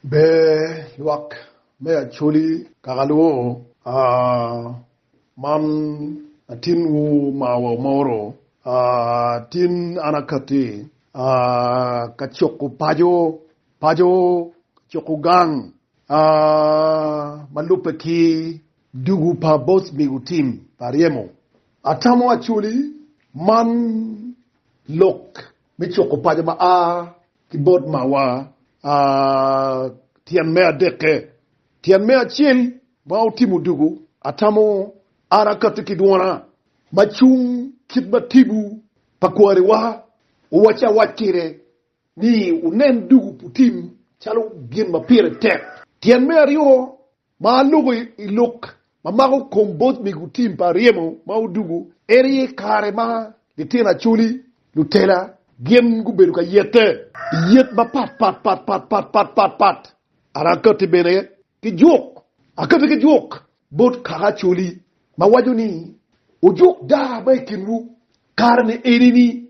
Ber lwak me Acholi kaka lubo, Man atin wu ma wamoro, Atin an akati ka cuku paco, Paco ka cuku gang ma lubbe ki dugu pa bot migo tim pa ryemo. Atamo Acholi man lok me cuku paco ma a. ki bot mawa. A Tyen me adekke, tyen me acel ma otimo dugu, atamo an akatti ki dwona ma cung kit ma tibu pa kwariwa owacci awac kwede ni wunen dugu putim calo gin ma pire tek. Tyen me aryo, Ma alubo i lok ma mako kom bot mego tim pa ryemo ma odwogo en aye kare ma litino acholi, lutela, gin gubedo ka yette i yet mapatpatpatpatpatpatpat. An akatti bene ki juk, akatti ki juk bot kaka acholi ma waco ni, Wujuk daa ma i kinwu, kare-ni eni-ni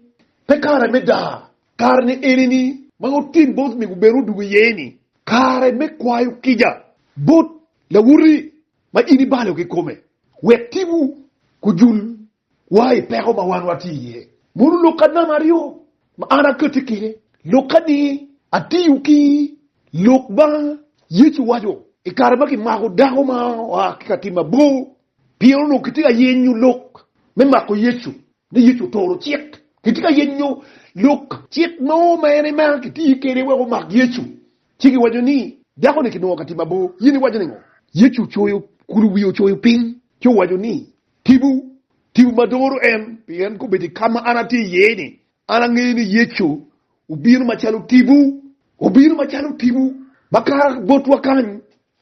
pe kare me daa. Kare-ni eni-ni ma otim bot ni gubin odug iye ni, kare me kwayo kica bot lawote ma in ibalo kikome, wek timwu gujul wa i peko ma wan watye iye. Mono lok anama aryo ma an akati kine, lok ka ni atiyo ki lok ma Yecu owaco i kare ma kimako dako ma oa ki ka tim mabor Pien onongo kitye ka yenyo lok me mako Yecu, ni Yecu oturo cik. Kitye ka yenyo lok cik mo ma en ema kitiyo kwede wek omak Yecu, ci giwaco ni, Dako-ni kinongo ka timo abo, in iwaco ningo? Yecu ocoyo kulu wiye ocoyo piny, ci owaco ni, Tibu, tibu ma doro en, pien kobedo i ka ma an atye iye-ni, an angeyo ni Yecu obino macalo tibu. Obino macalo tibu ma kato botwa kany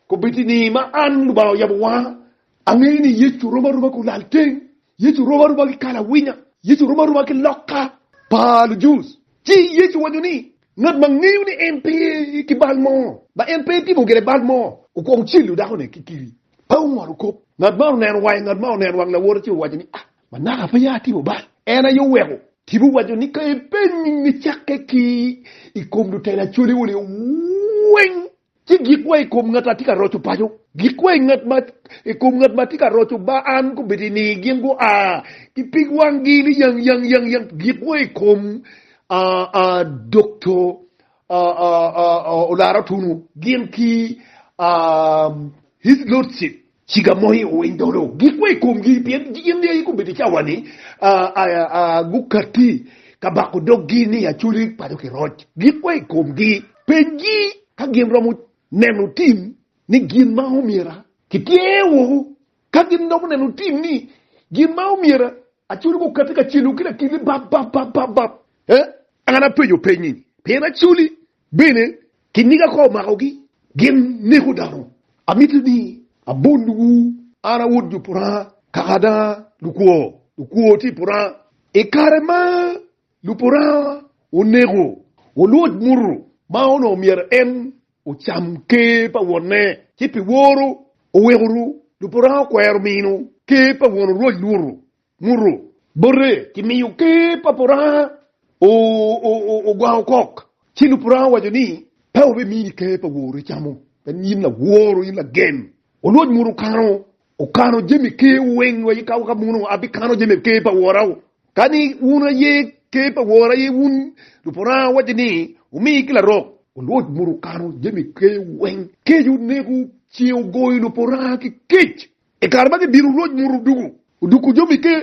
Kobedi ni ma an Lubanga oyabo wanga, angeyo ni Yecu rom aroma ki olalteng, Yecu rom aroma ki kalawinya, Yecu rom aroma ki lokka pa lujus. Ci Yecu owaco ni, Ngat ma ngeyo ni en pe ki bal mo, ma en pe etimo gire bal mo, okwongo celo dakone ki kiri, pe ongolo kop. Ngat ma oneno wang ngat ma oneno wang lawote ci owaco ni, Ma naka pe atimo bal? En aye oweko. Tipo owaco ni, Ka ipenyo nyinge cakke ki i kom lutela cwaliwa-ni weng, Ci gik wa i kom ngat atye ka roco paco, gik wa i kom ngat ma atye ka roco ba an gubedo i nigi gin gua ki pig wanggi ni yang yang yang yang, gik wa i kom Dokto Olara Otunwu gin ki His Lordship. Ciga mo i owiny dolo, gikwe i komgi, pien gin ni aye gubedo i cawa-ni, gukatti ka bako doggi ni acoli paco ki roc. Gikwe i komgi. Pengi ka gin romo neno tim ni gin ma omyera kitye woko. Ka gin romo neno tim ni gin ma omyera acoli gukatti ka celo ki lakilli bap bap bap bap bap, eh, an apenyo peny-nyi, pien acoli Bene, kiniga ka omakogi, gin neko dano. Amito ni abonnuwu, an awot nyo puranga, kaka da lukwo, lukwo tye i puranga. I kare ma lupuranga oneko, olwoc muto ma onongo myero en ocam ker pa wonne, ci pi woro oweko lupuranga okwero mino ker pa won orwoc luto. muto bote ki miyo ker pa Puranga ogwango kok, ci lub Puranga owaco ni, Pe wabimini ker pa wori camo, pien in laworo, in lagem. Olwoc muto kano, okano jami kerwu weng wa ika waka muno abikano jami ker pa wora. Ka ni wun aye ker pa wora aye wun, lub Puranga owaco ni, wumi ki larok. Olwoc muto okano jami kerwu weng, kec oneku ce ogoyo lub Puranga ki kec. I kare ma gidiro Rwot mot odoko, odoko jami ke.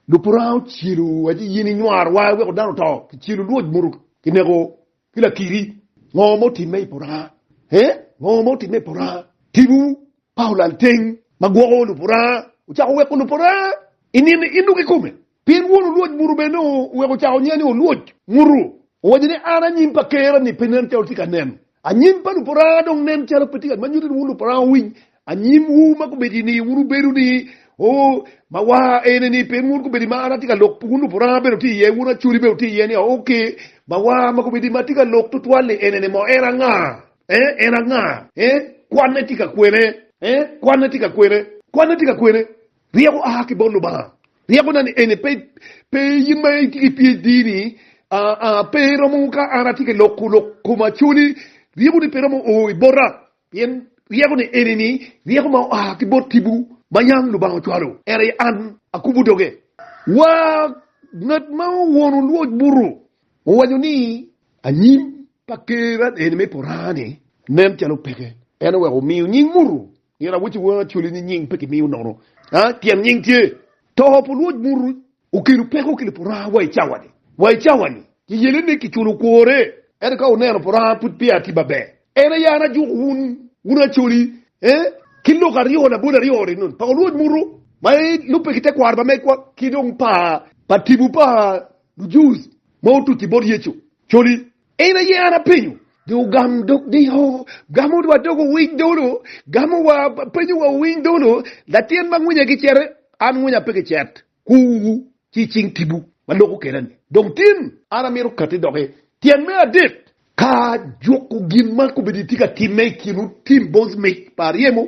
Lupur Aa ocelo wa ci yen inywar wa iweko dano oto ki celo Rwot mot ki neko ki lakiri. Ngo ma otimme i pur Aa? Ee, ngo ma otimme i pur Aa? Tibu pa olal teng ma gwoko lupur Aa ocako weko lupur Aa i nino i nduki kome. Pien won olwoc muto bene oweko ocako nyinga ni Olwoc. Muto owaco ni, An anyim pa Ker-ra ni pe nen calo tye ka nen. Anyim pa Luparanga dong nen calo pe tye ka. Ma nyuto ni wun Luparanga wuwiny anyimwu ma gubedo i ni wun wubedo ni, Oo, ma wa ene ni, pien wun gubedo i ma an atye ka lok, wun Luparanga bene wutye iye, wun Acholi bene wutye iye ni, Oo, ki, ma wa ma gubedo i ma atye ka lok tutwal ni, Enene mo, en anga? Ee, en anga? Ee, kwanne tye ka kwene? Ee, kwanne tye ka kwene? Kwanne tye ka kwene? Ryeko a ki bot Lubanga. Ryekona ni eni pe pe in ma itye ki PHD ni a a pe romo ka an atye ka loko lok koma coli ryeko ni pe romo o i bota pien ryeko ni eni ni ryeko ma oa ki bot tibu ma yam Lubanga ocwalo ento i an akubo doge wa ngat ma owono lwoc butu owaco ni anyim pa ker an eni me pora ni nen calo peke en oweko omiyo nying mutu Nino awoco i wanga coli ni nying pe kimiyo nono pien nying tye. Too pu Luoc Muru okelo peko ki Lupuraha wa i cawa-ni. Wa i cawa-ni, Yeyelene kiculo kwore, ento ka wuneno Puraha pud peya tye maber. En aye an ajuko wun, wun acoli, ee, ki lok aryo labol aryo-ni, nun pa Luoc Muru ma lubbe ki tekwaro pa megwa ki dong pa tipo pa Lujus ma otuc-ci bot Yecu, coli, En aye an apenyo, do ogam dok diko, gamo wa dok owiny dolo, gamo wa, penyo wa owiny dolo, latin ma ngwinya gicete, an ngwinya pe gicet, kuwu ci i cing tibu ma loko keda-ni. Dong tin, an amito katti dok i tyen me adek. Ka juko gin ma kobedi tye ka timme i kin otim bot mic pa aryemo,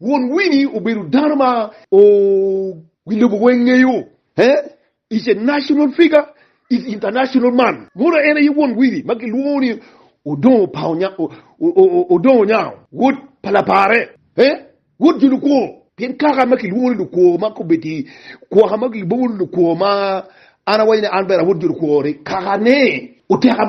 Won Wini obedo dano ma wi lobo weng ngeyo, is a national figure, is international man. Modo en aye won Wini ma kilwongo ni Odongo Onyango, wod pa lapare, wod jo lukwo. Pien kaka ma kilwongo ni lukwo ma kobedo i kwoka ma gilubongo ni lukwo ma an awaco ni an bene awod jo lukwo ni kakane oteka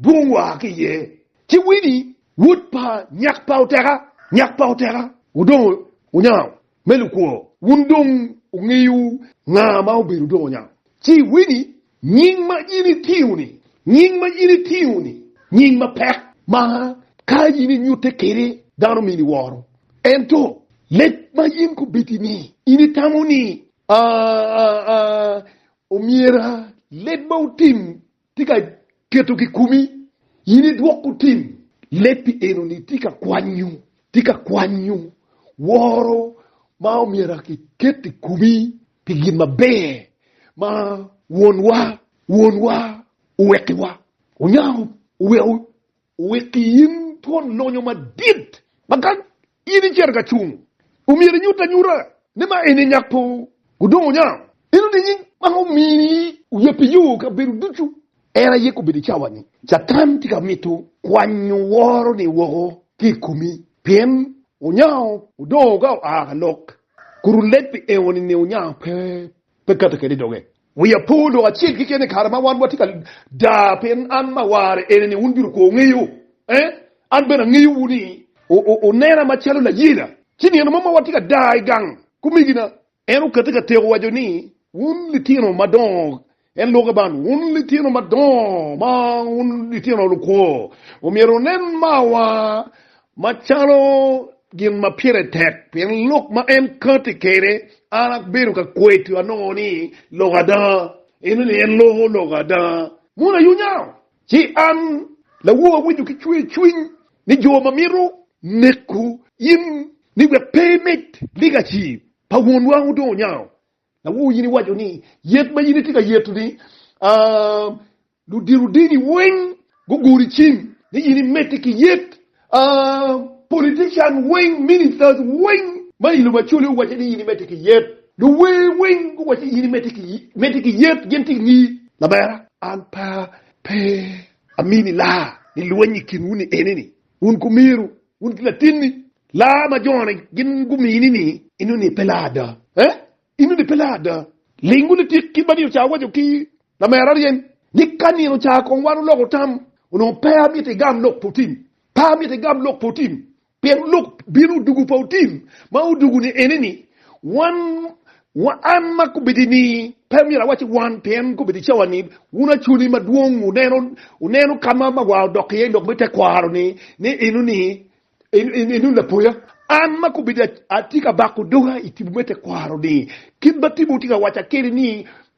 Dwong wa ki iye. Ci Wini, wod pa nyak pa Oteka, nyak pa Oteka, odongo onyango me lukwo. Wun dong wungeyo nga ma obedo odongo onyango. Ci Wini, nying ma in itingo-ni, nying ma in itingo-ni, nying mapek ma ka in inyutte kwede dano mini woro. Ento leb ma in kobiti-ni, in itamo ni, Aa, omyera leb ma otim tye ka keto kikumi, in idwoko tim. Lebbi enoni tye ka kwanyo, tye ka kwanyo woro ma omyero akiket i komi pi gin maber ma Wonwa, Wonwa owekkiwa. Onyango oweko Wek in twon lonyo madit ma ka in icito ka cung, omyero inyut anyuta ni ma eni nyak po gudong onyang. Eno nining ma omini oye pi yo kabedo ducu? En aye kobedo i cawa ni Catan tye ka mito kwanyo woro-ni woko ki i komi pien onyango odongo ka oa ka lok, kun oleb pi eno-ni ni onyango pe pe kati kede doge. Wiya pe odoko acel keken i kare ma wan watye ka daa pien an ma awarre ene ni wun bino kwo wungeyo, ee, an bene angeyowu ni wunena macalo layela. Ci nino mo ma watye ka daa i gang kumigina, en okati ka teko waco ni, Wun litino madongo, en lwoke ban, wun litino madongo ma wun litino lukwo, omyero wunen mawa Macalo gin ma pire tek pien lok ma en kati kwede, an abedo ka kweto anongo ni lok ada, eno ni en loko lok ada. Mono ayo nyao, ci an lawo awinyo ki cwer cwiny ni jo ma mito neko in ni wek pe imit ligaci pa Wonwa wudongo nyao, Lawo in iwaco ni yet ma in itye ka yeto ni ludiro dini weng guguri cim ni in imedde ki yet politician weng ministers weng ma ilo macoli owace ni in imedde ki yet luwer weng guwace in imedde ki yet gin tye ingi lamera an pe amini laa ni lweny ikinwu ni enini Wun kumyero wun ki latinni laa ma jone gin gumini ni, inno ni pe laa ada. Eh? Inno ni pe laa ada? Ling wun itik kit ma nino ca owaco ki lamera aryen ni, Ka nino ca kong wan oloko tam, onongo pe amito igam lok pa otim. Pe amito igam lok pa otim, pien lok bino odugu pa otim ma odugu-ni ene ni, wan Wan ma kubedini pe myero awaci wan pien kubedi cawa ni wun acwali madwong wuneno wuneno kama ma wa odok iye lok me tekwaro ni ni inu ni inu lapoya an ma kubedi atye ka bako doga itibu me tekwaro ni kit ma tibu tye ka waca kede ni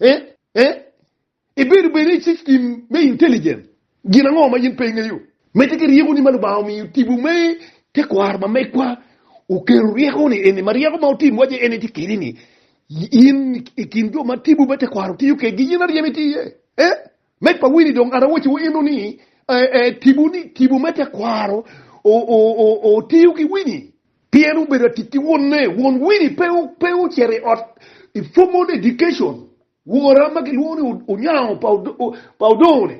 Eh, eh, ibedo bene i system me intelligence? Gin ango ma in pe ingeyo? Medde ki ryeko ni ma Lubanga omiyo tipo me tekwaro ma megwa oketo ryeko ni eni ma ryeko ma otim wace en itye kede ni in ikin jo ma tipo me tekwaro tiyo kedgi in aryem iti iye. Eh, Meg pa Winnie dong arowociwu eno ni tipo ni tipo me tekwaro otiyo ki Winnie pien obedo atic ki wonne. Won Winnie pe ocito i ot i formal education. Wora ma kilwongo ni Onyango pa Odongo-ni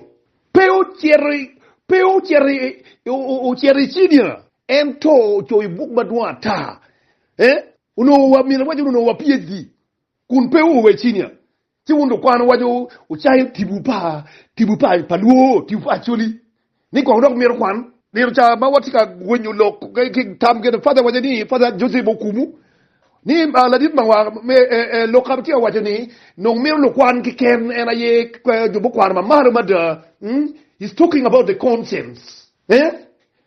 pe ocito i cinia ento ocoyo buk madwong ata. Min awaco ni onongo wa PHD kun pe oa i cinia. Ci wun lukwano waco wucayo tibu pa tibu pa pa lwor, tibu pa Acoli ni kong dok mito kwan. Nino ca ma watye ka gwenyo lok ki tam gene Father waco ni Father Joseph Okumu ni ladit ma wa me lok ka tye ka waco ni nong mito lukwan keken en aye jo mukwano ma malo mada, he's talking about the conscience.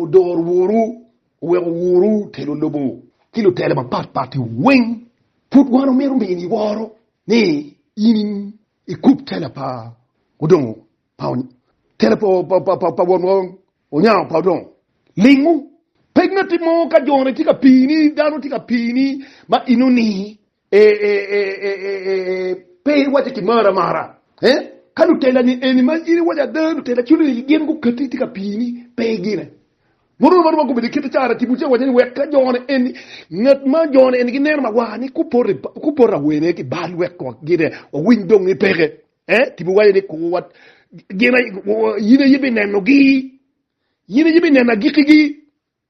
Wudor wuru, wek wuwuru telo lobo ki lutela mapat pat i weng. Pud wan omito mini iworo ni in ikub tela pa odongo pa tela pa won wa onyango pa odongo. Lingu. Pekna tye mo ka jone tye ka pini, dano tye ka pini ma ino ni Pe iwace ki mari amara. Ka lutelani eni ma in iwaco ada, lutela cunigi gin guketi itye ka pii ni pe igine. Muromo aroma gubedo i kite cara tipo ca iwaco ni wek ka jone eni ngat ma jone eni gineno mawar ni ku poto awene ki bal wek twak gine wawiny dong ni peke. Tipo waco ni ku wat gina in aye binenogi, in aye bineno agikigi.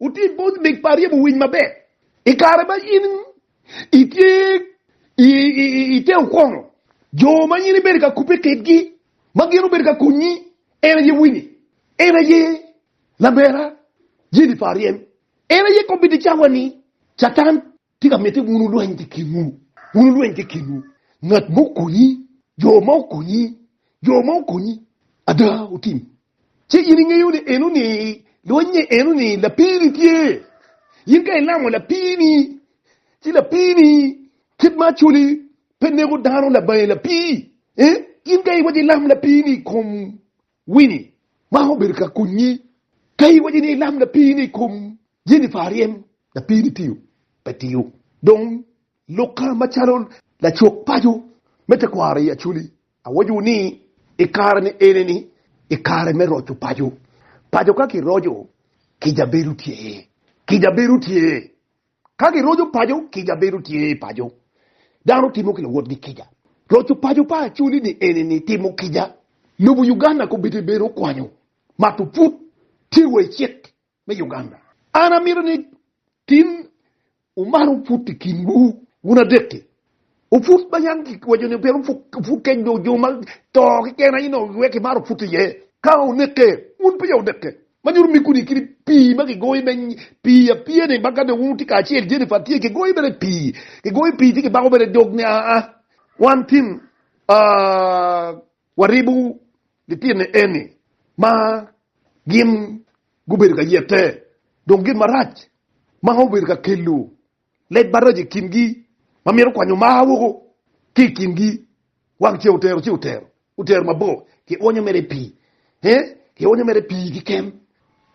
Wuti bot mig pa ryemo winy maber. I kare ma in itye i te okono, jo ma in ibedo ka kubbe kedgi ma gin obedo ka konyi en aye Winnie, en aye Labera, Jennifer Aryem, en aye kombeddi cawa-ni, Catan. Tika mitte wun wulweny ki kinwu? Wun wulweny ki kinwu. Ngat mo okonyi, jo mo okonyi, jo mo okonyi. Ada, otim. Ci in ingeyo ni enoni lwennye, enoni lapiini tye. In ka ilamo lapiini, ci lapiini, kit ma Acholi pe neko dano labange lapii, eh, in ka iwaco ilam lapiini i kom Winnie, Man obedo ka konyi ka iwaco ni ilam lapini i kom Jennifer aryem. Lapini tiyo pe tiyo dong lukka macalo lacuk paco me tekwaro i Acholi. Awaco ni i kare ni eni ni i kare me roco paco. Paco ka kiroco, kica bedo tye. Kica bedo tye Ka giroco paco, kica bedo tye i paco. Dano timo ki luwotgi kica. Roco paco pa Acholi ni eni ni timo kica. Lobo Uganda kobitte bedo kwanyo mato pud tye wa i cik me Uganda. An amito ni tin wumalo pud i kinwu wun adek-ki. Oput ma yam kiwaco ni pe oput kec nyo jo ma to keken aye nongo giwek ki maro put iye. Ka oneke, wun peya wuneke. Ma nyuto ni kuni kit pii ma kigoyo me pii apiya ni ma ka dong wun wutye kacel Jennifer tye kigoyo mere i pii, kigoyo pii ci kibako mere dog ni aa wan tin waribo litino eni ma gin gubedo ka yete dong gin marac ma obedo ka kelo Lec maraco i kingi ma mito kwanyo mar woko ki i kingi, wang ceng otero ci otero, otero mabor, kionyo mere pii, ee, kionyo mere pii kiken.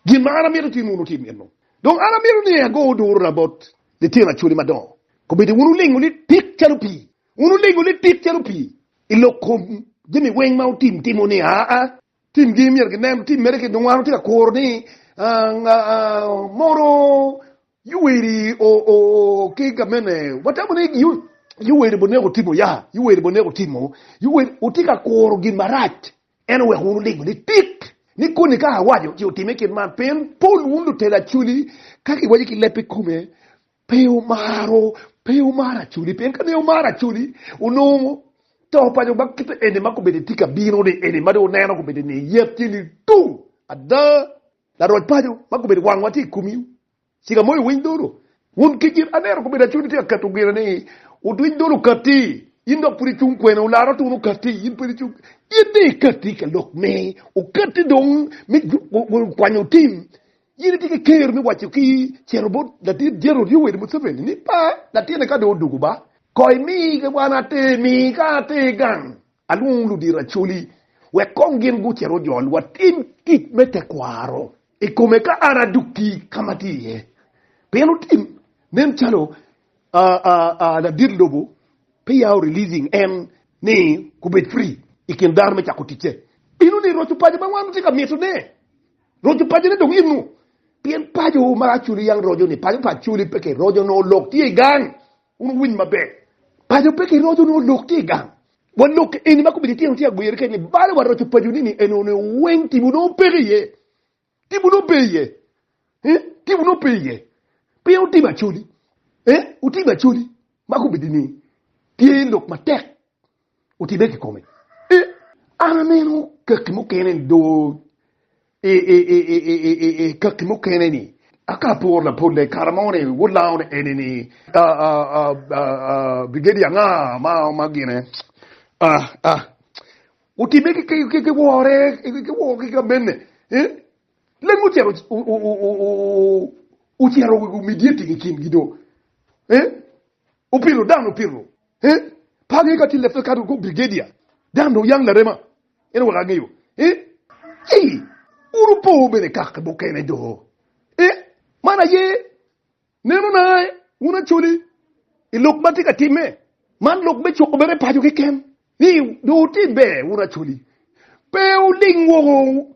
Gin ma an amito ci nunu tim eno. Dong an amito ni ago durra bot litino acwali madongo, kombeddi wun wulingo lit tik calo pii, wun wulingo lit tik calo pii i lok kom jami weng ma otim timo ni, aa, timgi myero ginen, tim mere ki nongo an atye ka kuro ni, aa, aa, mono Yoweri oo ki gamene watamo ni yoweri boneko timo ya yoweri boneko timo yoweri otye ka kuro gin marac en oweko wun wulingo ni tit ni koni ka awaco ci otime kit man pien pol wun lutela acoli ka kiwaco ki leb ikome pe wumaro pe wumaro acoli pien ka ne wumaro acoli onongo to paco ma kite eni ma kobedi tye ka bino ni eni ma dong wuneno kobedi ni yet tye ni tung ada Laroc paco ma gubedo wangwa tye i komi, cika moyo winy dolo. Wun ki gin anera gubedo acwadi tye ka keto gine ni wudwiny dolo katti, in dok pud icung kwene, wulara tuno katti, in pud icung. In dong ikatti ka lok me okatti dong me kwanyo tim, in itye ki ker me waco ki cito bot Latit Jenerol Yoweri Museveni ni pa latinne ka dong odugu ba, koi mi wan atir, mi ka atir gang. Alwongo ludiracoli wek kong gin gucit ojol watim tic me tekwaro i kome ka an adokki ka ma atye iye. Pien otim nen calo ladit lobo pe yao releasing en ni gubed free i kin dano me cako ticce. Inu ni roco paco ma wan watye ka mito ne, roco paco ne dong inu, pien paco ma acoli yang roco ni paco pa acoli pe ke roco nongo lok tye i gang. Wun wuwiny maber, paco pe kiroco nongo lok tye i gang. Wa lok eni ma kobedi tyen tye agwir kit ni bale waroco paco ni ni eno ni weng tipo nongo peke iye. Tipo nongo pe iye. Eh, tipo nongo pe iye. Pien wutibo acoli. Eh, wutibo acoli ma kobedi ni tye lok matek Otibbe kikome. An aneno kaki mukene ni do kaki mukene ni aka apor lapolle i kare mo ni wulango ni eni ni bigedi anga ma gine. Otibbe ki wore ki kamene. Leng ocito ocito midyeting i kingi do. Opito dano opito. Eh, par ni ka tye lefte kato kong brigedia dan dong yang larema eno wek angeyo. Eh, ci uru po bene kaki mukene do. Eh, man aye neno na eh, wun acoli i lok ma tye ka time man lok me cuko bene paco keken. Ni do ti ber wun acoli. Pe uling woko.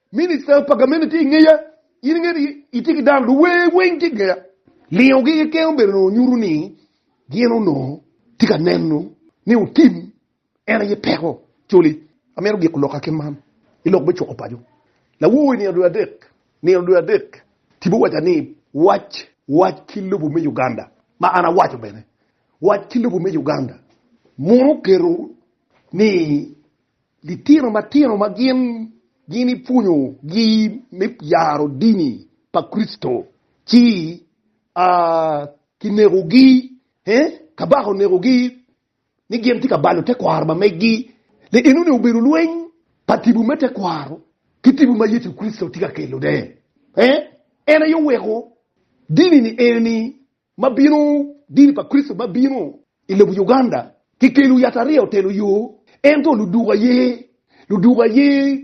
Minista pa gamente tye i ngeya. In ingeyo ni itye ki dano luwer weng tye i ngeya. Lingogi keken obedo nongo nyuto ni gin onongo tye ka neno ni otim en aye peko. Coli, amito giko lokka ki man i lok me cuko paco. Lawowo i nino dwe adek, nino dwe adek, tipo owaca ni wac, wac ki lobo me Uganda, ma an awaco bene, wac ki lobo me Uganda mono oketo ni Litino matino ma gin ginipwonyo gi me yaro dini pa Kricito ci a ki neko gi he kabaka oneko gi ni gin tye ka balo te kwaro ma megi le eno ni obedo lweny pa tibu me te kwaro ki tibu ma Yecu Kricito tye ka kelo ne he en aye oweko dini ni eni ma bino, dini pa Kricito ma bino i lobo Uganda kikelo yatariya otelo yo, ento luduku aye, luduku aye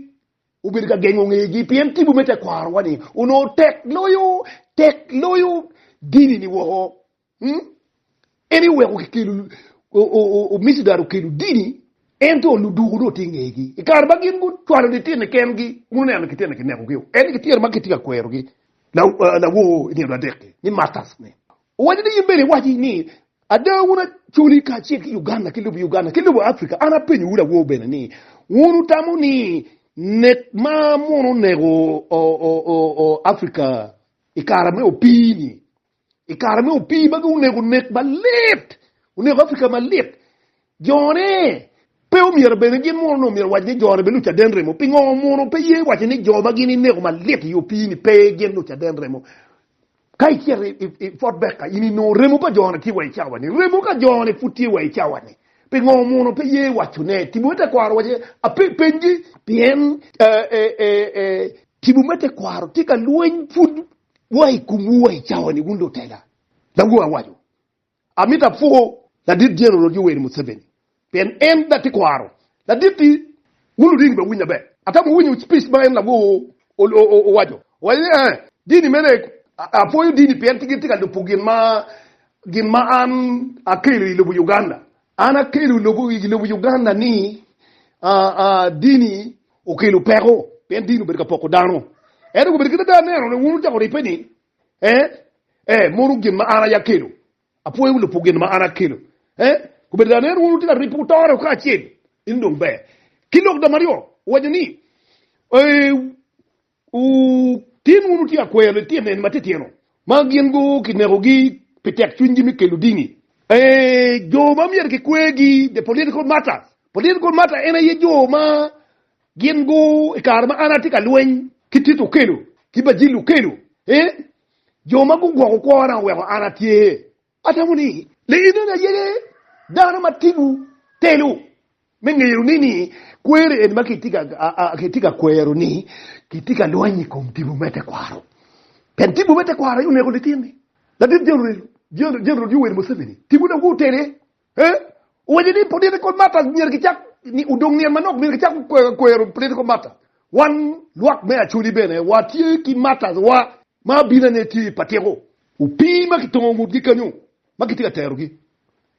obedo ka gengo ngegi pien tipo me tekwaro-wa ni onongo tek loyo, tek loyo dini-ni woko. Hmm? En aye oweko kikelo, o, o, o, o micidari okelo dini, ento luduku dong tye ngegi. I kare ma gin gucwalo litine kengi, wun wuneno ni kitine kinekogi-o, en ni kitine ma kitye ka kwerogi, lawor i nino adek-ki, ni Martas ni, Owaco ni, In bene iwaci ni, Ada wun Acholi kacel ki Uganda ki lobo Uganda ki lobo Africa, an apenyowu lawor bene ni, wun wutamo ni nek ma muno oneko Africa i kare me opii-ni I kare me opii magi onego nek malit, oneko Africa malit. Jone pe omyero bene gin munu no myero wac ni jone be lucaden remo. Pingo munu pe ye waco ni jo ma gin ineko malit i opii ni pe gin lucaden remo? Ka icito i Fort Becca in inongo remo pa jone tye wa i cawa ni, remo ka jone pud tye wa i cawa ni. Pingo munu pe ye waco ne? Tibu me tekwaro waco ape pengi. Pien Tibu me tekwaro tye ka lweny pud Wa i kumwu wa i cawani wun lutela, Lawu awaco. Amito apwo ladit Jeneral Yoweri Museveni pien en da tye kwaro ladit-ti. Wun luringi be winya ber. Atamo winyo speech ma en Lawu owaco. Owaco ni, Ee, dini mene, apwoyo dini pien gin tye ka lubo gin ma gin ma an akelo i lobo Uganda. An akelo i lobo Uganda ni dini Okelo peko pien dini obedo ka poko dano. Ento kobedo kit ada aneno ni wun wucako ribbe ni, ee, ee, mono gin ma an aye akelo. Apwoyo Lubo gin ma an akelo. Ee, kobedo ada aneno wun wutye ka ribbe wutore woko kacel, eno dong ber. Ki lok da maryo, owaco ni, ee, Wutin wunu tye ka kweyo litino eni matitino ma gin kinekogi pi tek cwinygi me kelo dini. Ee, jo ma myero kikwegi, the political martyrs. Political martyr en aye jo ma gin gu i kare ma an atye ka lweny ki Tito Okello ki Bajil Okello, ee, jo ma gugwoko kwona oweko an atye Atamo ni lienoni aye ni dano ma timo telo me ngeyo ni ni kweri en ma kitye ka kwero ni kitye ka lweny i kom tipo me tekwaro. Pien tipo me tekwaro aye oneko litini. Ladit General Yoweri Museveni tipone aye otene. He, owaco ni political matters myero gicak ni odong nyen manok myero gicak kwero political matters. Wan lwak me Acholi bene watye ki matters wa ma abinane tye pa tiko. Opii ma kitongo ngutgi kanyo ma kitye ka terogi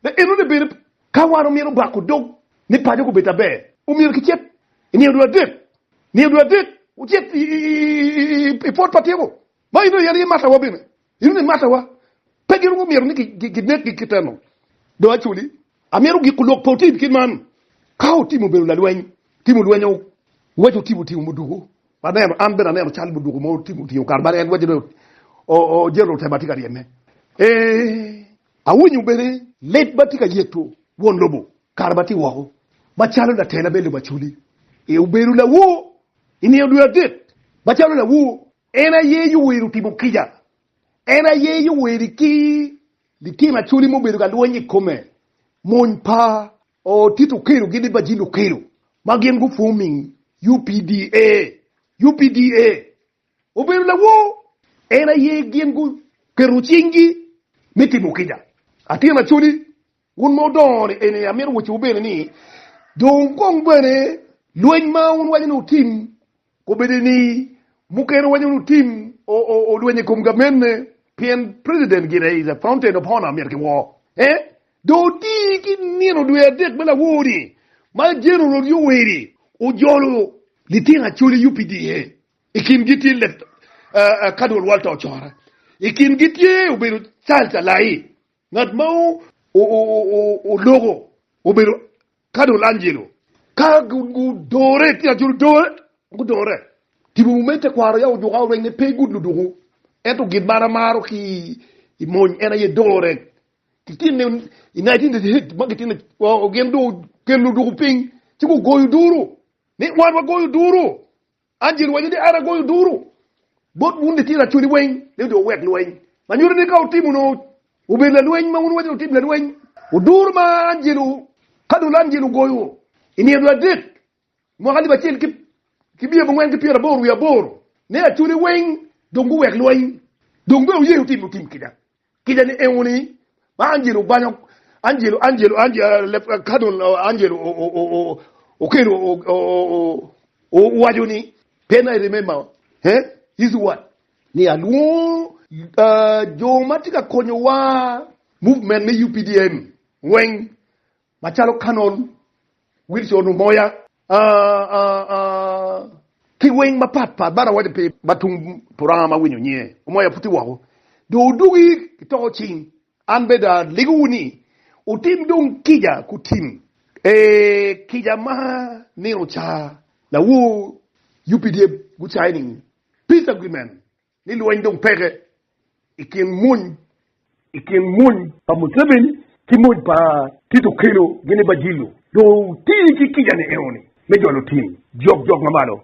be enone bene. Ka wan omyero obako dog ni paco gubed aber, omyero kicit i niye dul adek, niye dul adek wucit i pwot pa tiko. Ma in dong iyenyo matawa bene, ineno ni matawa pe gin gumito ni ginekgi kiteno. Dong acoli, amito giko lok pa otim kit man. Ka otim obedo lalweny, tim olwenyo, waco otim otingo muduku, aneno, an bene aneno cal muduku mo otim otingo kare ma en waco ni ojeto te ma tye ka ryeme. Eeh, awinyo bene lit ma tye ka yeto won lobo kare ma tye woko, macalo latela me lobo acoli. Eeh, obedo lawor i nino dwe adek, macalo lawor En aye yoweri otimo kica, en aye yoweri ki litino acholi mubedo ka lweny i kome. Mony pa Otit Okelogi ni Bajil Okello ma gin gu forming UPDA, UPDA obedo lawor, en aye gin gu keto cing gi me timo kica. Atin acholi. Wun ma wudongo ni eni, amito wacciwu bene ni, dong kong bene lweny ma wun waco ni wutim obedi ni mukene waco ni wutim olweny i kom gamenne, pien president gire is a fountain of honor, myero kiwor en. Dong oti ki nino dwe adek me lawor-ri ma General Yoweri ojolo litino acolle UPDA, i kingi tye Lt. Cardwell Walter Ocora, i kingi tye obedo Charles Alai. Ngat ma oloko obedo Cardinal Angelo ka gudore tye aculo dore gudore tipo mo me tekwaro ya ojuka oreng ne pe good luduku ento gin ma an amaro ki i mony en aye dore ki tin ne i nineteen thirty eight ma gitin gin do kelo luduku piny ci gugoyo duru ni wan wagoyo duru An Jeru awaco ni, 'An agoyo duru bot wun litino acodi weng ni dong wuwek lweny, ma nyuto ni ka wutimo nongo wubedo lalweny ma wun wuwaco ni wutimo lalweny. Duru ma angelo, ka dul angelo ogoyo i nino dul adek, mwaka alip acel ki miya abongwen ki pyeraboro wiye aboro, ne acodi weng dong guwek lweny, dong bene wuye wutimo tim kica. Kica ni Euni, ma Angelo obanyo, Angelo, Angelo, Angelo, ka dong Angelo okelo owaco ni, Then I remember, eh, Yecu wat, ni alwongo jo ma tye ka konyowa, movement me UPDM weng, Macalo Canon Wilson Onumoya, ki weng mapat pat bene awaco pi ma tung puranga ma winyo nyinge Omoya puti woko, dong wudugi ki toko cing. An bene aligowu ni, wutim dong kica ku tim, ee, kica ma nino ca lawo UPDF gucayo ni Peace Agreement. ni lweny dong peke i kin mony i kin mony pa Museveni ki mony pa Tito Okello gini Bajilo dong oti ki kica ni enoni me jolo tim jok jok ma malo